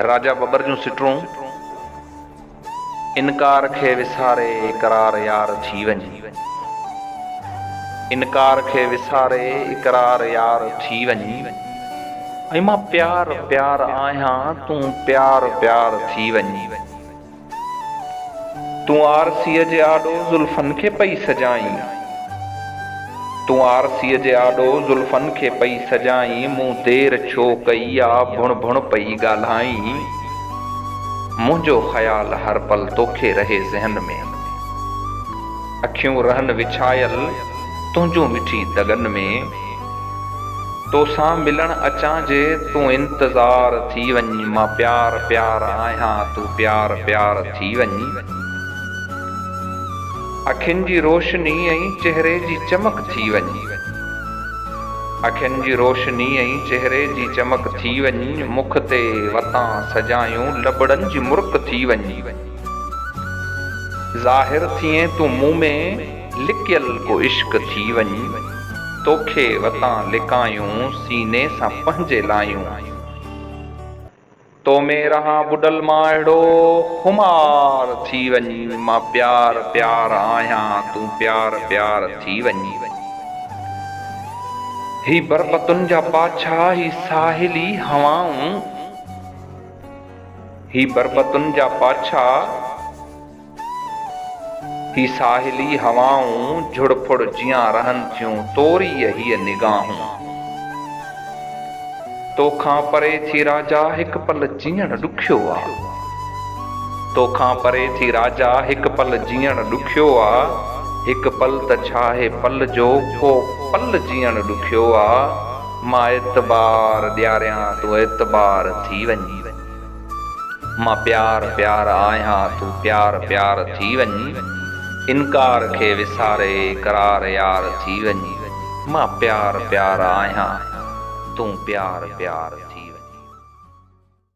راجا ٻٻر جون سٽرون، انڪار کي وساري اقرار يار ٿي وڃ، انڪار کي وساري اقرار يار ٿي وڃ، ۽ مان پيار پيار آهيان تون پيار پيار ٿي وڃ. تون آرسيء جي آڏو زلفن کي پئي سجائين تون آرسيء جي آڏو زلفن کي پئي سجائين مون دير ڇو ڪئي آ ڀڻ ڀڻ پئي ڳالهائين منهنجو خيال هر پل توکي رهي ذهن ۾ اکيون رهن وڇايل تنهنجون مٺي دڳن ۾. توسان ملڻ اچان جي تون انتظار ٿي وڃ مان پيار پيار آهيان تون پيار پيار ٿي وڃ اکين جي روشني ۽ چهري جي چمڪ ٿي وڃ اکين جي روشني ۽ چهري جي چمڪ ٿي وڃ مک تي وتان سجايون لبڙن جي مرڪ ٿي وڃ ظاهر ٿئين تون مون ۾. لڪيل ڪو عشق ٿي وڃ، توکي وتان لڪايون سيني سان پنهنجي لايون. تو ۾ رهان ٻڏل مان اهڙو خمار ٿي وڃ، مان پيار پيار آهيان تون پيار پيار ٿي وڃ. هي بربتن جا پاڇا هي ساحلي هوائون، هي بربتن جا پاڇا. هي ساحلي هوائون جھڙ ڦڙ جيان رهن ٿيون توريء هيء نگاهون توکان پري ٿي راجا هڪ پل جيئڻ ڏکيو آ توکان پري ٿي راجا هڪ پل جيئڻ ڏکيو آ هڪ پل ته ڇا هي پل جو ڪو پل جيئڻ ڏکيو آ مان اعتبار ڏياريان تون اعتبار ٿي وڃ. مان پيار پيار آهيان تون پيار پيار ٿي وڃ انڪار کي وساري قرار يار ٿي وڃ مان پيار پيار آهيان تون پيار پيار ٿي وڃ.